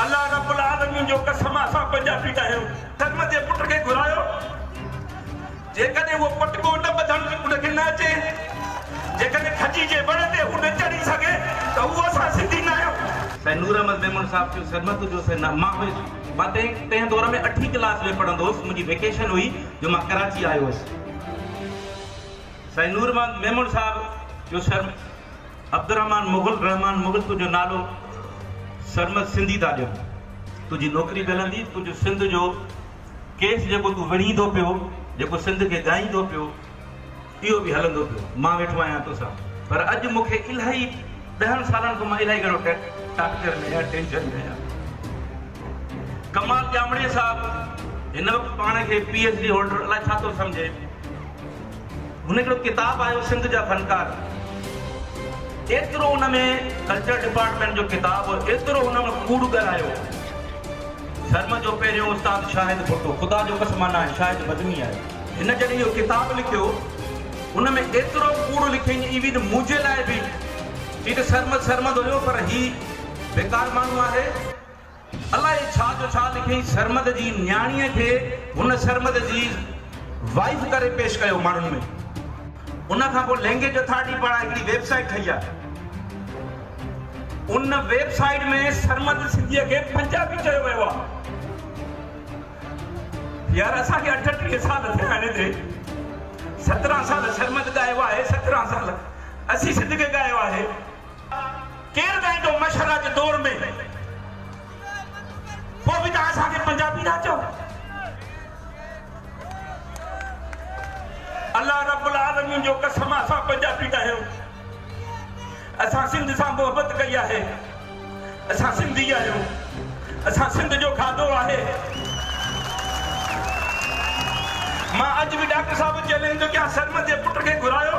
الله رب العالمين جو قسم اسان پنجابي ناهيون. ڪرم جي پٽ کي گهرايو جيڪڏهن اهو پٽڪو نه ٻڌڻ ان کي نه اچي جيڪڏهن کجي جي وڻ تي هو نه چڙهي سگهي ته اهو اسان سنڌي ناهيون. سائين نور احمد ميمڻ صاحب چيو سرمت جو سائين نا مان هيس مان تنهن تنهن دور ۾ اٺين ڪلاس ۾ پڙهندو هيس منهنجي ويڪيشن هئي جو مان ڪراچي آيو هيس سائين نور محمد ميمڻ صاحب چيو سر عبدالرحمان مغل رحمان مغل تنهنجو نالو سرمد سنڌي ٿا ڏيون تنهنجي نوڪري به هلندي تنهنجو سنڌ جو ڪيس جيڪو تون وڙهين ٿو پيو جيڪو سنڌ کي ڳائين ٿو پيو اهو به هلندو پيو مان ويٺو آهيان توسان پر اڄ مون کي الاهي ڏهن سالن کان مان الاهي گهڻو ٽارچر ۾ آهيان ٽينشن ۾ آهيان ڪمال ڄامڙي صاحب هن وقت پاڻ کي پي ايچ ڊي هولڊر الاهي ڇا ٿو سمجهي هن هڪڙو ڪتاب آيو سنڌ جا فنڪار ايترو ان ۾ ڪلچر ڊپارٽمينٽ جو ڪتاب هو ايترو هن ۾ ڪوڙ ڳالهايو ڌرم جو پهريون استاد شاهد ڀٽو خدا جو قسم انا هي شاهد بدني آهي هن جڏهن اهو ڪتاب لکيو ان ۾ ايترو ڪوڙ لکين ايون منهنجي لاء به چي ته سرمد سرمد هيو پر هي بيڪار ماڻهو آهي. الائي ڇا جو ڇا لکيائين سرمد جي نياڻيء کي هن سرمد جي وائيف ڪري پيش ڪيو ماڻهن ۾ ان کان پوء لينگيج اٿارٽي پاران هڪڙي ويب سائيٽ ٺهي آ ان ويب سائيٽ ۾ سرمد سنڌيء کي پنجابي چيو ويو آ يار اسان کي اٺٽيهه سال ٿيا آهن هتي سترهن سال سرمد ڳايو آهي سترهن سال اسين سنڌ کي ڳايو آهي. ڪير ڳائيندو مشهدا جي دور ۾؟ پوء به توهان اسان کي پنجابي ٿا چئو؟ الله رب العالمين جو قسم اسان پنجابي ناهيون اسان سنڌ سان محبت ڪئي آهي اسان سنڌي آهيون اسان سنڌ جو کاڌو آهي مان اڄ به ڊاڪٽر صاحب چيلنج ٿو ڪيان سرمد جي پٽ کي گهرايو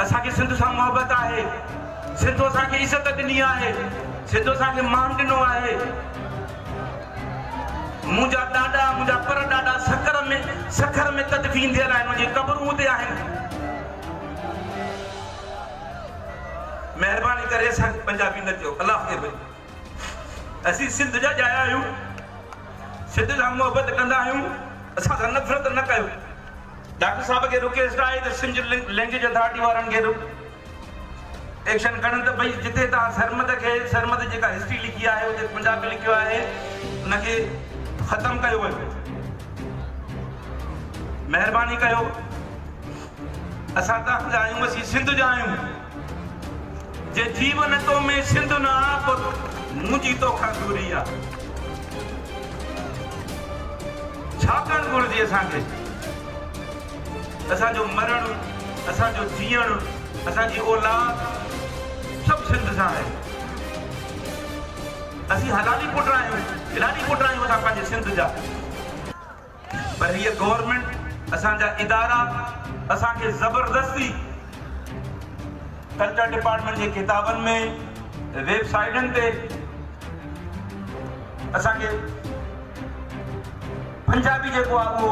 اسان کي سنڌ سان محبت آهي، سنڌ اسان کي عزت ڏني آهي، سنڌ اسان کي مان ڏنو آهي. منهنجا ڏاڏا، منهنجا پر ڏاڏا سکر ۾ سکر ۾ تدفين ٿيل آهن، انهن جي قبرون اتي آهن. مهرباني ڪري اسان کي پنجابي نه چئو، الله کي ڀڄو. اسين سنڌ جا ڄايا آهيون، سنڌ سان محبت ڪندا آهيون، اسان سان نفرت نه ڪيو. ڊاڪٽر صاحب کي رڪيسٽ آهي ته سنڌ لينگيج اٿارٽي وارن کي به ايڪشن کڻن ته ڀئي جتي تان سرمد کي سرمد جيڪا هسٽري لکي آهي اتي پنجابي لکيو آهي ان کي ختم ڪيو وڃي مهرباني ڪيو اسان تان جا آهيون اسين سنڌ جا آهيون جي جيون تو ۾ سنڌ نه آ پت منهنجي توکان دوري آ ڇا ڪرڻ گهرجي اسان کي اسان جو مرڻ اسان جو جيئڻ اسان جي اولاد سڀ سنڌ سان آهي اسين حلالي پٽ آهيون حلالي پٽ آهيون اسان پنهنجي سنڌ جا. پر هيء گورنمينٽ اسان جا ادارا اسان کي زبردستي ڪلچر ڊپارٽمينٽ جي ڪتابن ۾ ويب سائيٽن تي اسان کي پنجابي جيڪو آ اهو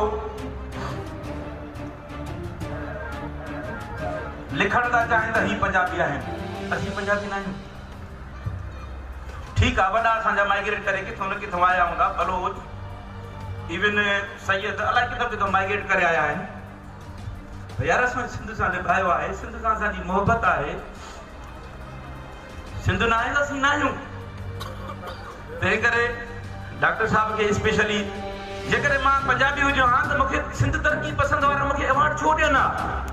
لکڻ ٿا چاهين ته هي پنجابي آهن اسين پنجابي نه آهيون ٺيڪ آ وڏا اسان جا مائگريٽ ڪري ڪٿو نه ڪٿو آيا هوندا بلوچ ايون سيد الائي ڪٿو ڪٿو مائگريٽ ڪري آيا آهن يار اسان سنڌ سان نڀايو آهي سنڌ سان اسان جي محبت آهي سنڌ ناهي ته اسين ناهيون تنهن ڪري ڊاڪٽر صاحب کي اسپيشلي جيڪڏهن مان پنجابي هجو ها ته مون کي سنڌ ترقي پسند وارا مون کي ايوارڊ ڇو ڏين ها